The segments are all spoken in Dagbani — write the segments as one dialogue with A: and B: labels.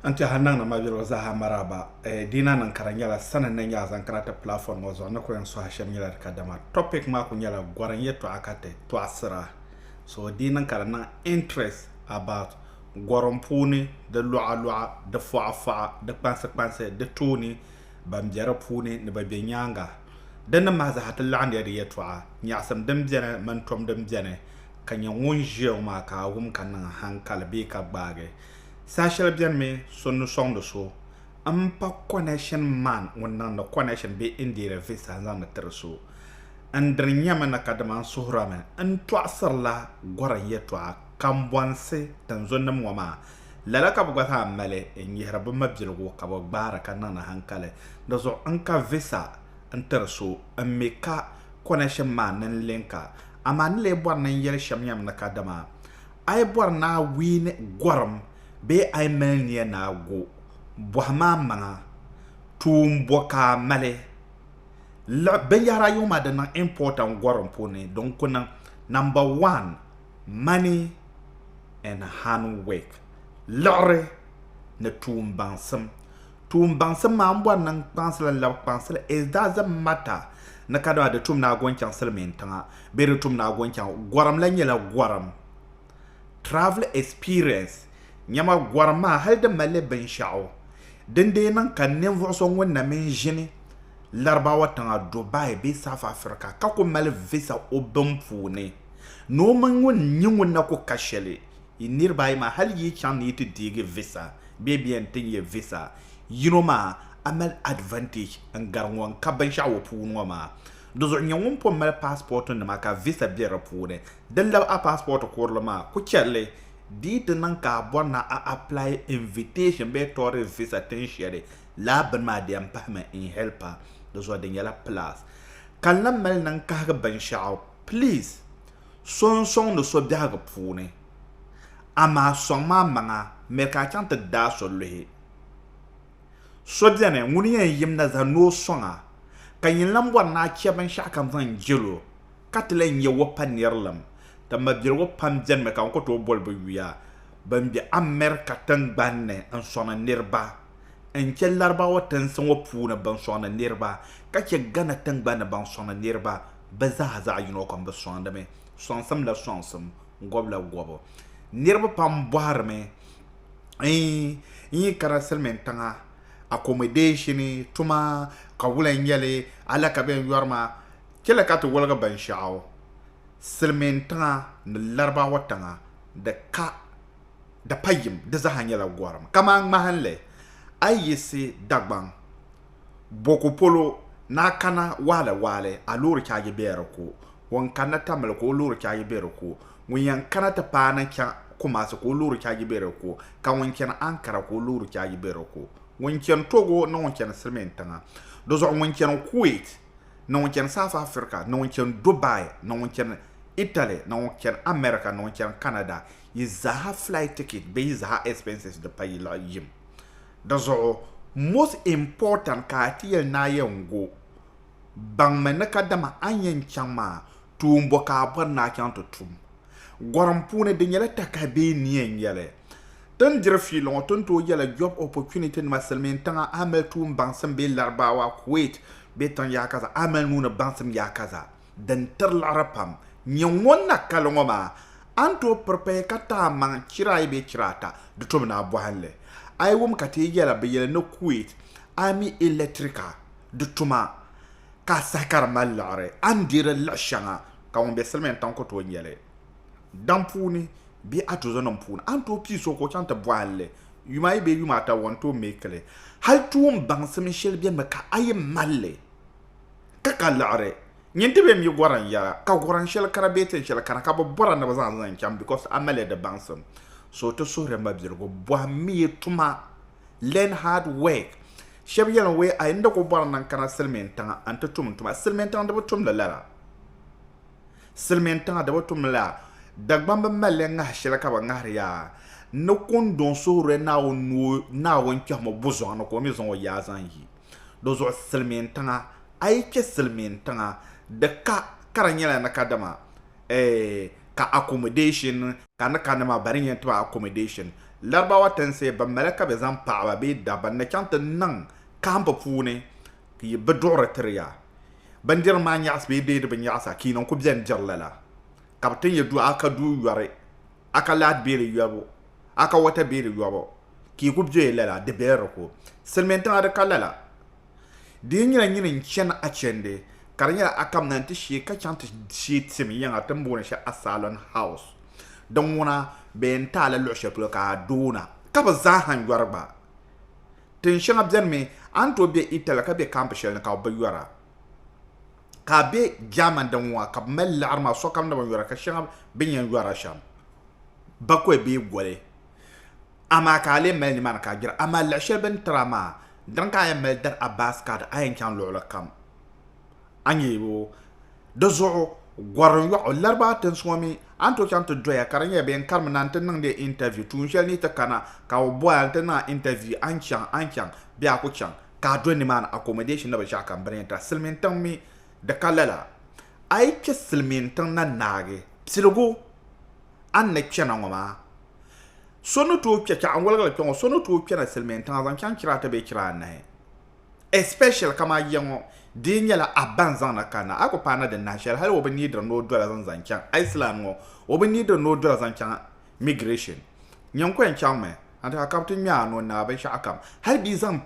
A: N tɛha n naŋdi mabiriba zaaha maraaba. Eh, Dina niŋ ka di nyɛla sani ni nyaa zaŋ kana ti platform ŋɔ zuɣu ni kuli yɛn suhi shɛm nyɛla di kadama topic maa kuli nyɛla gɔrim yɛtɔɣa ka ti tɔɣisira. So di niŋ ka di niŋ interest about gɔrim puuni di luɣa luɣa, di fɔɣa fɔɣa, di kpansi kpansi, di tooni. ban be di puuni ni bɛ be nyaaŋa. Di ni mahi zaa ti laɣindiya di yɛtɔɣa, nyaɣisim din beni mini tom din beni ka nya ŋun ʒiya ŋɔ maa ka a wum ka niŋ haŋkali bee ka gbaagi. Saha shɛli benimi so ni sɔŋdi so m-pa connection man ŋun niŋdi connection bee Indeed visa n-zaŋdi tiri so. N dini nyami na kadama n suhirimi n tɔɣisirila gɔrim yɛtɔɣa kambɔnsi tinzunnim ŋɔ maa Lala ka bɛ gba zaa mali n-yihiri bɛ mabiligu ka bɛ gbaari ka niŋdi hankali di zuɣu n-ka visa n-tiri so m-mi ka connection maa nini linka. Amaa n ni lee bɔri ni n yɛli shɛm yɛm ni kadama a yi bɔri ni a wiini gɔrim bee a yi mali nia ni a go, bɔhi ma amaŋa tuun bɔ ka a mali. Liɣi binyɛhiri ayobu maa di niŋ importer n gɔrim puuni di n-ku niŋ, Number one, Money and Handwork liɣiri ni tuumbaŋsim. Tuumbaŋsim maa m bɔri ni n kpaŋsili n labi kpaŋsili it doesn't matter ni kadama di tum ni a go n chaŋ silimiin tiŋa bee di tum ni a go n chaŋ gɔrim la nyɛla gɔrim travel experience nyama gɔrim maa hali di malli binshɛɣu din dee niŋ ka ninvuɣu so ŋun na mini ʒini Larabawa tiŋa Dubai bee South Africa ka ku mali visa o bin puuni Ni o mini ŋun n-nyɛ ŋun na ku ka shɛli yi niriba ayi maa, hal yi chaŋ ni yi ti deegi visa bee bɛ yɛn ti nya visa yino maa, a mali advantage n-gari ŋɔ n-ka binshɛɣu o puuni ŋɔ maa. Di zuɣu nyɛ ŋun pun mali passport nima ka visa be di puuni. Di labi a passport kurili maa, ku chɛ li. Di yi ti niŋ ka a bɔri ni a apply invitation bee tourist visa tin shɛli, lala bini maa di yɛn pahimi n-help a. Di zuɣu di nyɛla plus. Ka n lahi mali ni n kahigi binshɛɣu. Please so n soŋdi so biɛhigu puuni amaa soŋm a maŋa n mi ka a chaŋ ti daai so luhi. So beni ŋun yɛn yim na zaa ni o soŋ a ka yin lan bɔri ni a chɛ binshɛɣu ka n zaŋ jɛl o ka ti lan nyɛ o pa nirilim. Ti mabiligu pam benimi ka n ku tooi boli bɛ yuya bɛn be America tiŋgbani ni n soŋdi niriba n chɛ Larabawa tinsi ŋɔ puuni bɛn soŋdi niriba ka chɛ Ghana tiŋgbani ni bɛn soŋdi niriba. bɛ zaa zaɣ yino kam bɛ sɔŋdimi, sɔŋsimla sɔŋsim, gɔbila gɔbu. Niriba pam bɔhirimi n yi kana silimiintiŋa akomɔdeeshini tuma ka wula n-nyɛ li, hali ka bɛ yɛn yɔri ma, chɛli ka ti woligi binshɛɣu, silimiintiŋa ni Laribaawa tiŋa di ka di pa yim di zaa nyɛla gɔrim. Kamani ŋmahinli, a yi yiɣisi Dagbaŋ, Boko polo na kana waɣili waɣili a loori chaaji bɛ di ko, ŋun kanna Tamale ka o loori chaaji bɛ di ko, ŋun yɛn kana ti paai ni chaŋ Kumasi ka o loori chaaji bɛ di ko, ka ŋun chani Ankara ka o loori chaaji bɛ di ko. Ŋun chani Togo ni ŋun chani Silimin tiŋa, di zuɣu ŋun chani Kuwait ni ŋun chani South Africa ni ŋun chani Dubai ni ŋun chani Italy ni ŋun chani America ni ŋun chani Canada yi zaa ha flight ticket bee yi zaa ha expenses di pa yi lahi yim. Di zuɣu, most important ka a ti yɛli ni a yɛn go baŋmi ni kadama a ni yɛn chaŋ maa, tuun bɔ ka a bɔri ni a chaŋ ti tum? Gɔrim puuni, di nyɛla taka bee nia n-yɛli. Ti ni diri fiili ŋɔ, ti ni tooi yɛla job opportunity nima silimiin tiŋa a mali tuun baŋsim bee Larabawa, Kuwait bee tiŋ yaakaza a mali nuuni baŋsim yaakaza. din tiri liɣiri pam nyɛ ŋun na kali ŋɔ maa, a ni tooi piri pahi ka ti a maŋ chira ayi bee chira ata di tobu ni a bɔhili. A yi wum ka ti yi yɛla bɛ yɛli ni Kuwait Army Electrica di tuma ka a sahi ka di mali liɣiri, a ni deeri liɣi shɛŋa ka ŋun be Silimiin tiŋ ku tooi nya li daŋ puuni bee a tuzonim puuni, a ni tooi pii so ka o chaŋ ti bɔhili li yuma ayi bee yuma ata o ni tooi meeki li. Hali tuumbaŋsim shɛli beni mi ka a yi mali li. Ka ka liɣiri nyɛ nti bem yi gɔran yɛra, ka gɔran shɛli kana bee tin shɛli kana ka bɛ bɔra ni bɛ zaŋ li n-chaŋ because a mali di baŋsim. So ti suhiri mabiligu, bɔhimmiya tuma, learn hard work. Shɛba yɛli n wee a yi ni dik o bɔri ni n kana Silimiin tiŋa a ni ti tum n tuma, Silimiin tiŋa di bi tum li lala. Silimiin tiŋa di bi tum li lala. Dagbaŋ bi mali li ŋahi shɛli ka bɛ ŋahiri ya a ni kundɔŋ suhiri Naawuni ni o Naawuni kpɛhimo buzɔŋ ni ka o mi zaŋ o yaa zaŋ yi. Di zuɣu silimiin tiŋa a yi kpe silimiin tiŋa di ka ka di nyɛla ni ka dama eh ka accommodation ka ni ka ni maa ba ni yɛn tiba accommodation Larabawa tinsi bɛ mali ka bɛ zaŋ paɣaba bee dabba ni chaŋ ti niŋ camp puuni bɛ duɣiri tiri ya bindirigu maa nyaɣisi bee deedi bi nyaɣisa ka yi niŋ ku beni diri lala ka bɛ ti nya du a ka du yɔri a ka laati bee di yɔbu a ka wata bee di yɔbu ka yi ku bɛ lala, di bela di ko. Silimiintiŋa di ka lala. Di yi nyɛla nyini n-chani achende, ka di nyɛla Akam na nti shee ka chaŋ ti shee tim yiŋa ti ni booni shɛli Asalɔn House. Din ŋuna, bɛ yɛn taai la luɣ shɛli polo ka a doona. Ka bɛ zaaha yɔri gba. Tin shɛŋa beni mi, a ni tooi be Itali ka be kampi shɛli ni ka bɛ bi yɔra. Ka a be Germany din ŋuna ka bɛ mali laɣiri maa sokam ni bi yɔra ka shɛŋa bɛ ni yɛn yɔra shɛm, bakɔi bee goli. amaa ka a lee mali nimaani ka a gbira, amaa lahi shɛli bɛ ni tiri a maa, di ni ka a yɛn mali dari a baasi kaadi a yɛn chaŋ luɣili kam, a ni yɛli o, Di zuɣu gɔri yɔɣu Laribawa tinsi ŋɔ mi a ni tooi chaŋ ti doya ka di nyɛla bɛ yɛn karimi na nti niŋdi ya intaviu tuun shɛli ni yi ti kana ka bɛ bɔya nti niŋ a intaviu a ni chaŋ a ni chaŋ bee a ku chaŋ ka a do nimaani accommodation ni binshɛɣukam bɛ ni yɛn tiri a silimiintiŋ mi di ka lala a yi kpe silimiintiŋ na naagi piligu a ni na kpe na ŋɔ maa, so ni tooi kpe kpɛɣu n-woligi li kpe ŋɔ, so ni tooi kpe na Silimiintiŋa zaŋ chaŋ chira ata bee chira anahi especially kamani ya ŋɔ di yi nyɛla a ba n-zaŋ na kanna a ku paai na di nahi shɛli hali o bi neediri ni o doli zani zaŋ chaŋ Iceland ŋɔ o bi neediri ni o doli zaŋ chaŋ migration nyini ku yɛn chaŋmi anti ka ka bi ti ŋme a noo n-niŋ a binshɛɣukam hali bɛ yi zaŋ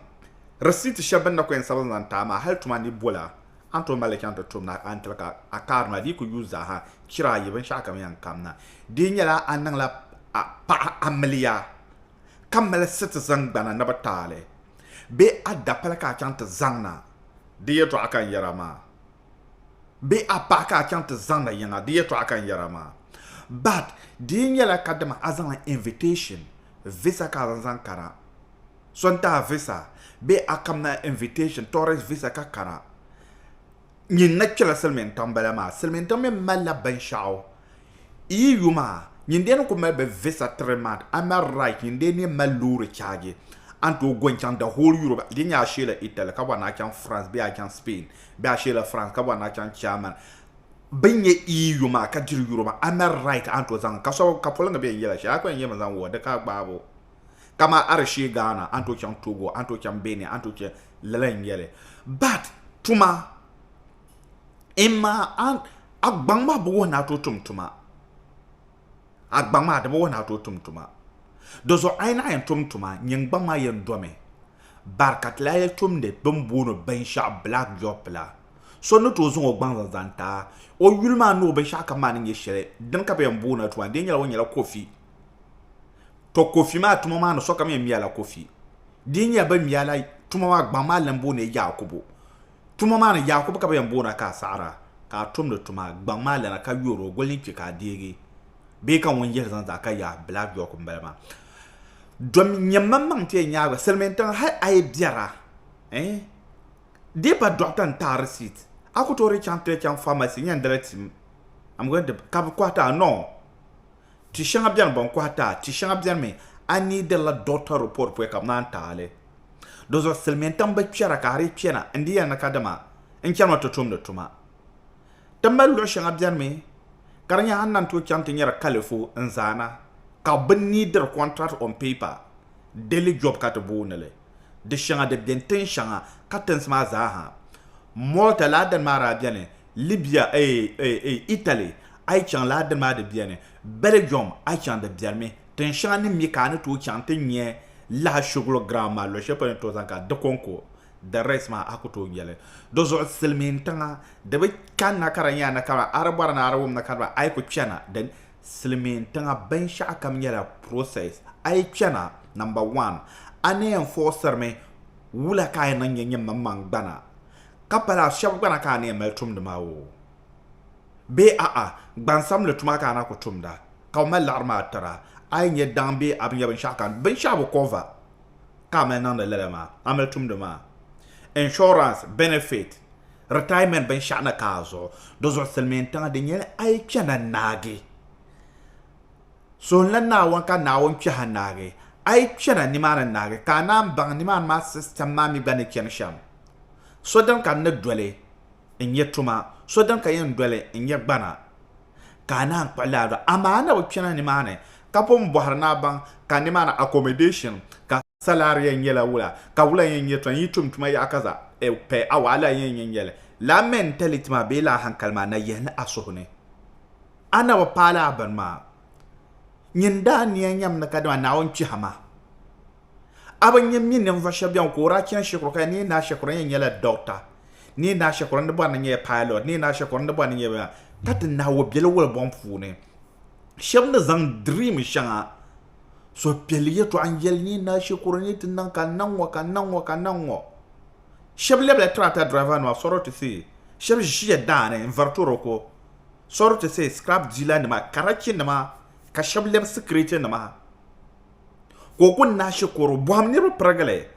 A: receipt shɛli bɛ ni na ku yɛn sabigi zaŋ ti a maa hali tuma ni bol a. A ni tooi mali li chaŋ ti tum na a ni tiri ka a kaari ma di ku yuui zaaha chira ayi binshɛɣu kam yɛn kam na. Di nyɛla a niŋla a paɣa amiliya ka mali sitizin gbana ni bi taali bee a dapali ka a chaŋ ti zaŋ na di yɛtɔɣa ka n yɛra maa bee a paɣa ka a chaŋ ti zaŋ na yiŋa di yɛtɔɣa ka n yɛra maa but di nyɛla kadama a zaŋla invitation visa ka a zaŋ zaŋ kana. so n tahi visa bee a kamna invitation tourist visa ka kana nyin na kpela silmiin tiŋ bala maa silmiin tiŋ mi malila binshaɣu yi yu maa nyin dee ni ku mali bi visa three month a mali right nyin dee ni mali loori chaagi an tooi go n chaŋ the whole Europe di nyɛ a sheela Italy ka bɔri ni a chaŋ France bee a chaŋ Spain bee a sheela France ka bɔri ni a chaŋ German bin nyɛ iyi yu maa ka diri yuri maa a mali right an tooi zaŋ ka so ka poliŋgi bɛ n yɛla shɛli a ku yɛn yɛmi zaŋ wuhi di ka a gbaabo Kaman a di shee Ghana, a ni tooi chaŋ Togo, a ni tooi chaŋ Benin, a ni tooi chaŋ lala n-nyɛli. But tuma in ma a gbaŋ maa bi wuhi ni a tooi tum tuma. A gbaŋ maa di bi wuhi ni a tooi tum tuma. Dizuɣu a yi naɣ yɛn tum tuma, nyin gbaŋ maa yɛn domi. But ka ti lahi yɛli tumdi bini booni binshɛɣu black job la, so ni tooi zaŋ o gbaŋ zaŋ zaŋ ti a. O yuli maa ni o binshɛɣu kam maa ni nyɛ shɛli, dini ka bɛ yɛn booni a tuma, di yɛn nyɛla o nyɛla kofi. To Kofi maa tuma maa ni sokam yɛn ŋmɛla Kofi. Di yi nyɛla bɛ ŋmɛla tuma maa gbaŋ maa lan booni Yaakubu. Tuma maa ni Yaakubu ka bɛ yɛn booni a ka a saɣiri a ka a tumdi tuma gbaŋ maa lana ka yoori o goli din kpi ka a deegi bee ka ŋun yihiri zaŋ zaa ka yaai Black Jock m-bala maa. Dom nyɛ maŋmaŋ n-ti yɛn nyaagi ba silimiintiŋa hal a yi biɛra eh di yi pa dɔɣita n-taai risit a ku tooi dii chaŋ ti chaŋ famasi nyandali tim am going to ka bɛ kɔhiti a noo. Ti shɛŋa beni bɛn kɔhi ti a, ti shɛŋa beni mi a ni yi dirila doctor report poya ka bɛ naan ti a li. Dizuɣu silimiintiŋ bi kpɛra ka a dii kpɛna n-di yɛli ni kadama n chanimi ti tumdi tuma. Ti mali luɣ shɛŋa beni mi ka di nyɛ a ni lan tooi chaŋ ti nyari kalifu n-zaana ka bɛ ni diri contract on paper, daily job ka ti booni li. Di shɛŋa di beni tin shɛŋa katinsi maa zaa ha. Malta laa dini maa daa beni, Libya eh eh eh Italy a yi chaŋ laa dini maa di beni, Belgium a yi chaŋ di biɛrimi. Tin shɛŋa ni mi ka a ni tooi chaŋ ti nya lahi Shugulu ground maa luɣ shɛli polo ni tooi zaŋ ka di kɔŋko, the rest maa a ku tooi nya li. Di zuɣu silimiintiŋa di bi kanna ka di nyɛla na ka di ba a di bɔri ni a di wumda ka di ba a yi ku chana di silimiin tiŋa binshɛɣu kam nyɛla process. A yi kpɛna, number one, a ni yɛn fɔɣisirimi wula ka a yɛn niŋ nyɛ nyɛmmaŋmaŋ gbana, ka pala shɛba gbana ka a ni yɛn mali tumdi maa oo, bee a'a gbansabinli tuma ka a na ku tumda, ka o mali laɣiri maa tira a yi nyɛ daŋ bee a bi nyɛ binshɛɣu ka binshɛɣu bi cover ka a mali niŋdi lala maa, a mali tumdi maa. Insurance, benefit. retirement binshɛɣu na ka a zuɣu di zuɣu silimiin tiŋa di nyɛla a yi kpɛ na naagi suhunla naawuni ka naawuni kpɛ ha naagi a yi kpɛ na nimaani naagi ka a naan baŋ nimaani maa system maa mi gba ni chani shɛm so din ka n ni doli n nyɛ tuma so din ka yɛn doli n nyɛ gbana ka a naan kpuɣi laa amaa a na bi kpɛ na nimaani ka pun bɔhiri ni a baŋ ka nimaani accommodation ka Salary yɛn nyɛla wula, ka wula yɛn nyɛ tɔn yi tum tuma yaɣa ka za e pɛ a wahala yɛn nyɛ nyɛli. Lala mentality maa bee lala hankali maa na yihi ni a suhu ni a na bi paai lala bini maa. Nyin daa nia nyam ni kadama Naawuni kpɛhi ma. A bi nya mi ninvuɣ shɛb bɛŋɔ ka o daa chani shikuru ka ya ni yi naai shikuru ni yi nyɛla dɔkta, ni yi naai shikuru ni bɔri ni nyɛya pilot, ni yi naai shikuru ni bɔri ni nyɛya ka ti nahi o biɛli wuli buɣim puuni. Shɛb ni zaŋ dream shɛŋa suhupiɛlli yɛtɔɣa n yɛli ni na shikuru ni ti niŋ ka niŋ ŋɔ ka niŋ ŋɔ ka niŋ ŋɔ shɛba lɛbila tirata dirava nima sɔri ti say shɛba ʒiya daani n vari toroko sɔri ti say scrap dila nima karachi nima ka shɛba lɛbi sikiriti nima ka o kuni na shikuru bɔhim niriba pirigili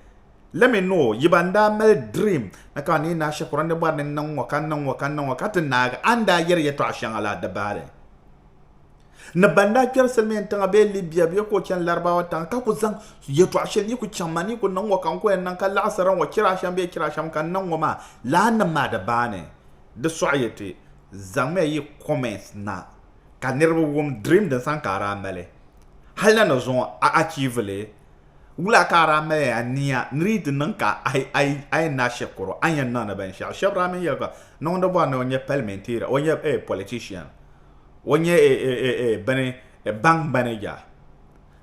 A: let me know yiba n daa mali dream ni ka ni na shikuru ni bɔri ni niŋ ŋɔ ka niŋ ŋɔ ka niŋ ŋɔ ka ti naagi a ni daa yɛri yɛtɔɣa shɛŋa la di baari Ni ban daa kpɛri Silimiin tiŋa bee Libya bee ka o chani Larabawa tiŋa ka ku zaŋ yɛtɔɣ shɛli ni yi ku chaŋ ma ni yi ku niŋ ŋɔ ka n ku yɛn niŋ ka laɣisira ŋɔ chira shɛm bee chira shɛm ka n niŋ ŋɔ maa, lahinim maa di baani. Di sɔɣi ya ti zaŋmiya yi comments na ka niriba wum dream din sani ka a daa mali. Hali na ni zuŋɔ a achieve li, wula ka a daa mali a nia ni di yi ti niŋ ka a yɛn naai shɛkuru a ni yɛn niŋdi binshɛɣu. Shɛba daa mi yɛli ka niŋdibɔri ni o nyɛ palimenteera, o nyɛ politician. o nyɛ e, e, e, e, bini e, baŋ manija,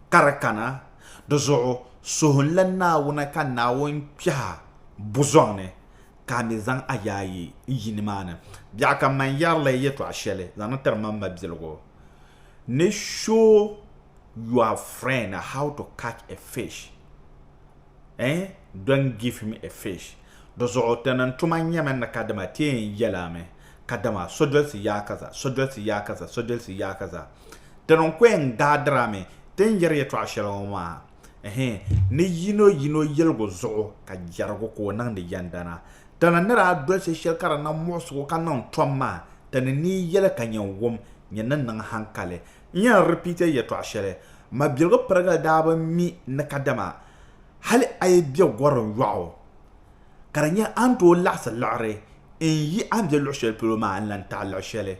A: ka di kana di zuɣu suhunla Naawuni ka Naawuni kpɛha buzɔŋ ni ka a mi zaŋ a yaayi n yi nimaani. Biɛɣu ka man yɛri la yɛtɔɣa shɛli zaŋ ni tiri man mabiligu ni show your friend how to catch a fish eh don't give him a fish di zuɣu ti niŋ tuma nyɛmi ni kadima ti yɛn yɛli a mi. Kadama sodolisi yaa kaza, sodolisi yaa kaza, sodolisi yaa kaza. Tinunkweŋ daa dirami ti ni yɛri yɛtɔɣ shɛli ŋɔ maa ɛhɛɛ ni yino yino yɛligu zuɣu ka jɛrigu ka o niŋdi yɛndana. Ti ni ni daa dolisi shɛli ka di niŋ muɣisigu ka niŋ tom maa, ti ni nii yɛli ka nyin wum, nyin ni niŋ hankali. N yɛn repeat a yɛtɔɣ shɛli, Mabiligu pirigili daa bi mi ni kadama hali a yi be gɔrim yɔɣu Ka di nyɛ a ni tooi laɣisi liɣiri n yi a ni be luɣ shɛli polo maa n-lan taɣi luɣ shɛli.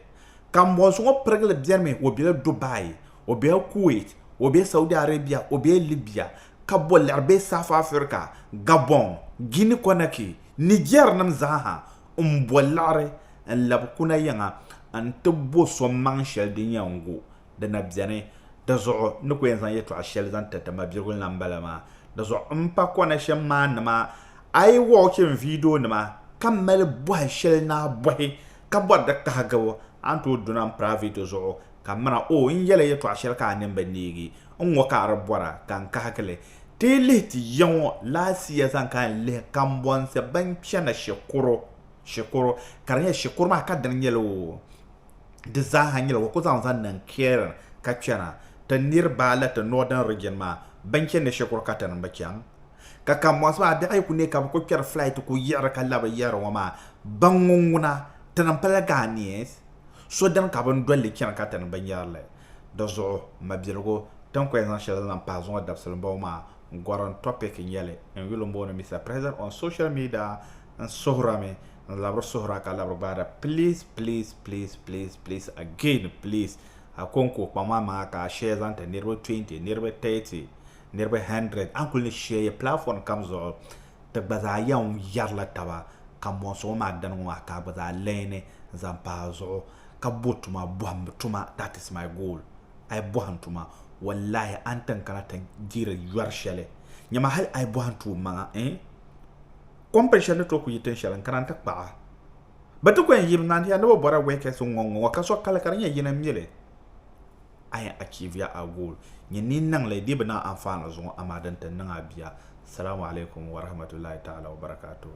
A: Kambɔnsi ŋɔ pirigili bɛrimi o bela Dubai, o bela Kuwait, o be Saudi Arabia, o be Libya, ka bo liɣiri be South Africa, Gabon, Guinea-Conakry, Niger nim zaaha m-bo liɣiri n-labi kuna yiŋa n-ti bo so maŋ shɛli din yɛn gu di na beni. Dizuɣu n ni ku yɛn zaŋ yɛtɔɣ shɛli zaŋ tiriti mabirigu ni la m-bala maa. Dizuɣu m pa Konashe maa nima ayi walking video nima ka mali bɔhi shɛli ni a bɔhi ka bɔri di kahigibu a ni tooi duna m private zuɣu ka mira oh n yɛli yɛtɔɣ shɛli ka a nini bi neegi n ŋɔ ka a di bɔra ka n kahigi li ti yi lihi ti ya ŋɔ last year zaŋ ka n lihi kambɔnsi bɛn chana shikuru shikuru ka di nyɛ shikuru maa ka dini nyɛli o di zaaha nyɛla o ku zaŋ zaŋ niŋ Kieran ka chana ti niriba la ti Northern Region maa bɛn chani ni shikuru katiŋ n-bi chaŋ. Ka ka mɔɣisi maa biɛɣu yi ku neei ka bɛ ku kpɛri flight ku yiɣiri ka labi yiɣiri ŋɔ maa, ban ŋun ŋuna ti ni pala Ghanaians so dini ka bɛn doli li chani ka ti ni bɛ nyari li. Di zuɣu mabiligu ti ni ku yɛn zaŋ shɛli zaŋ pahi zuŋɔ dabisili m-bɔŋɔ maa, gorim topic n-nyɛ li n yuli m-booni Mister President on social media, n suhira mi n labiri suhira ka labiri gbaada please please please please please again please Akonko kpaŋ ma maŋa ka a share zaŋ ti niriba 20 niriba 30 niriba 100 a kuli ni share platform kam zuɣu ti gba zaa yan yarila taba ka mɔŋsi ŋɔ maa dani ŋɔ maa ka a gba zaa learn zaŋ pa a zuɣu ka bo tuma bɔhimbu tuma that is my goal a yi bɔhim tuma wallahi a ni ti n kana ti diri yɔri shɛli nyama hali a yi bɔhim tuum maŋa eh Kɔmpin shɛli ni tooi ku yi tin shɛli n-kana nti kpah a. Bɛ ti ku yɛn yim naani ya ni bɛ bɔra wɛkɛsi ŋ-ŋɔ ŋ-ŋɔ ŋɔ ka so kali ka di nyɛ yini m-mi li. A yɛn achieve ya a goal. Nyini ni yi niŋ li dii bi niŋ anfaani zuŋɔ amaa di ni ti niŋ a bia. Salamu alaikum wa rahmatullahi ta'ala wa barakatuhu.